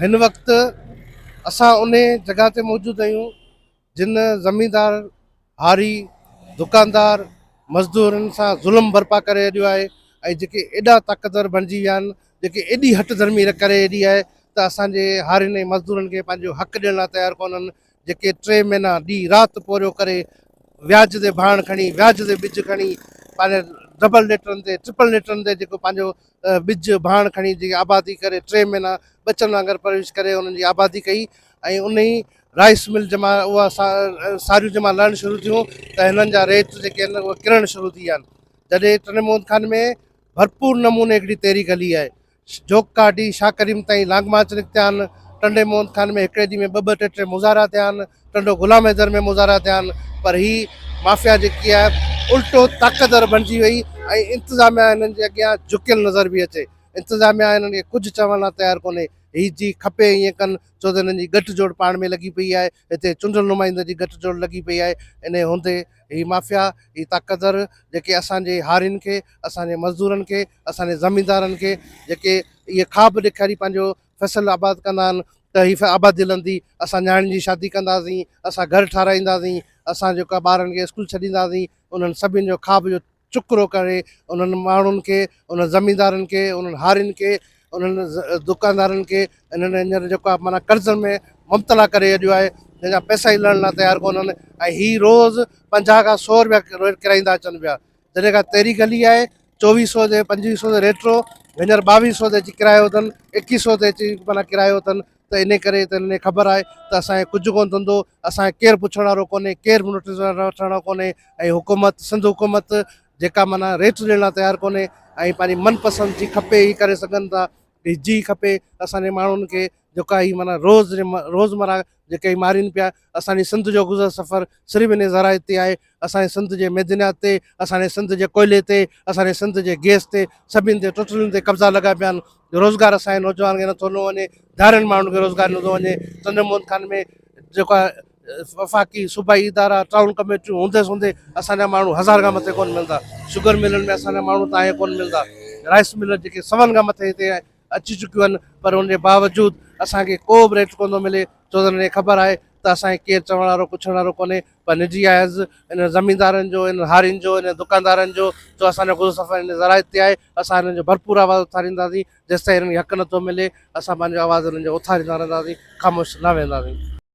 هن وقت اسان انهي جڳهه تي موجود آهيون جن زميندار هاري دڪاندار مزدورن سان ظلم برپا ڪري اڏيو آهي ۽ جيڪي ايڏا طاقتور بڻجي ويا آهن جيڪي ايڏي هٺ ڌرمي ڪري ايڏي آهي ته اسان جي هارين ۽ مزدورن کي پنهنجو حق ڏيڻ لاء تيار ڪونهن جيڪي ٽي مهينا ڏينهن رات پورهيو ڪري وياج تي ڀاڻ کڻي وياج تي ٻج کڻي پنهنجي ڊبل ليٽرن تي ٽرپل ليٽرن تي جيڪو پنهنجو ٻج ڀاڻ کڻي جيڪي آبادي ڪري ٽي مهينا ٻچن وانگر پرورش ڪري انهن جي آبادي ڪئي ۽ ان ئي رائس مل جمع اها ساريون جمع لهڻ شروع ٿيون ته هنن جا ريٽ جيڪي آهن اهي ڪرڻ شروع ٿي ويا آهن جڏهن ٽنڊي محمد خان ۾ ڀرپور نموني هڪڙي تحريڪ هلي آهي جوک ڪاٽي شاهه ڪريم تائين لانگ مارچ نڪتيا آهن، ٽنڊي موهن خان ۾ هڪڙي ڏينهن ۾ ٻه ٻه ٽي ٽي مظاهرا ٿيا آهن، ٽنڊو غلام حيدر ۾ مظاهرا ٿيا آهن پر هي مافيا جيڪي آهي الٽو طاقتور بڻجي وئي ۽ انتظاميا هنن جي اڳيان جهڪيل نظر پئي اچي، انتظاميا هنن کي ڪجهه چوڻ لا تيار ڪونهي، هي جي کپي ائين ڪن ڇو ته هنن جي ڳٺ جوڙ پاڻ ۾ لڳي پئي آهي. هتي چونڊيل نمائندن جي گٺ جوڙ لڳي پئي آهي، انهيء هوندي هي مافيا، هي طاقتور جيڪي اسان جي هارين کي، اسان جي مزدورن کي، اسان جي زميندارن کي جيڪي اهي خواب ڏيکاري پنهنجو فيصل آباد ڪندا آهن ته هي آبادي لهندي، اسان نياڻين جي شادي ڪنداسين، اسان گهر ٺاراهينداسين، اسان جيڪو آهي ٻارن کي اسڪول ڇڏينداسين، انهن سڀني جو خواب جو. چڪرو ڪري انهن ماڻهن کي انهن زميندارن کي انهن هارين کي انهن دڪاندارن کي انهن هينئر جيڪو آهي معنيٰ قرضن ۾ مبتلا ڪري ڇڏيو آهي جنهن جا پئسا ئي لهڻ لاء تيار ڪونهن ۽ هي روز پنجاهه کان سؤ روپيا ريٽ ڪرائيندا اچن پيا جڏهن کان تيري گلي آهي چوويهه سؤ تي پنجويهه سؤ تي ريٽ هو هينئر ٻاويهه سؤ تي اچي ڪرايو اٿن ايڪيهه سؤ تي اچي معنيٰ ڪرايو اٿن ته انهي ڪري ته انهن کي خبر آهي ته اسان کي ڪجهه ڪونه ٿندو اسان کي ڪير پڇڻ وارو ڪونهي ڪير به نوٽيس وٺڻ وارو ڪونهي ۽ حڪومت سنڌ حڪومت جيڪا معنيٰ ريٽ ڏيڻ لاء تيار ڪونهي ۽ پنهنجي من پسند جي کپي هي ڪري سگهن ٿا جي کپي اسان جي ماڻهن کي جيڪا هي معنيٰ روز روزمرا جيڪي مارين پيا اسان جي سنڌ جو گذر سفر صرف انهي ذرائع تي آهي، اسان جي سنڌ جي معدنيات تي، اسان جي سنڌ جي ڪوئلي تي، اسان جي سنڌ جي گيس تي، سڀني تي ٽوٽلين تي قبضا لڳا پيا آهن، روزگار اسان جي نوجوانن کي نٿو ڏنو وڃي، ڌارين ماڻهن کي روزگار نٿو ڏنو وڃي، چندر موهن خان ۾ جيڪا وفاقي صوبائي ادارا ٽائون ڪميٽيون هوندي سوندي اسان جا ماڻهو هزار کان مٿي ڪونه ملندا، شگر ملن ۾ اسان جا ماڻهو تائين ڪونه ملندا، رائس ملن جيڪي سون کان مٿي هتي اچي چڪيون آهن پر ان جي باوجود اسان کي ڪو به ريٽ ڪونه ٿو ملي ڇو ته انهن کي خبر آهي ته اسان کي ڪير چوڻ وارو پڇڻ وارو ڪونهي پر نجي آهي عرض انهن زميندارن جو انهن هارين جو انهن دڪاندارن جو جو اسان جو گذر سفر انهن ذرائع تي آهي اسان انهن جو ڀرپور آواز اٿارينداسين جيستائين انهن کي حق نٿو ملي اسان پنهنجو آواز انهن جو اٿاريندا رهنداسين خاموش نه ويهنداسين.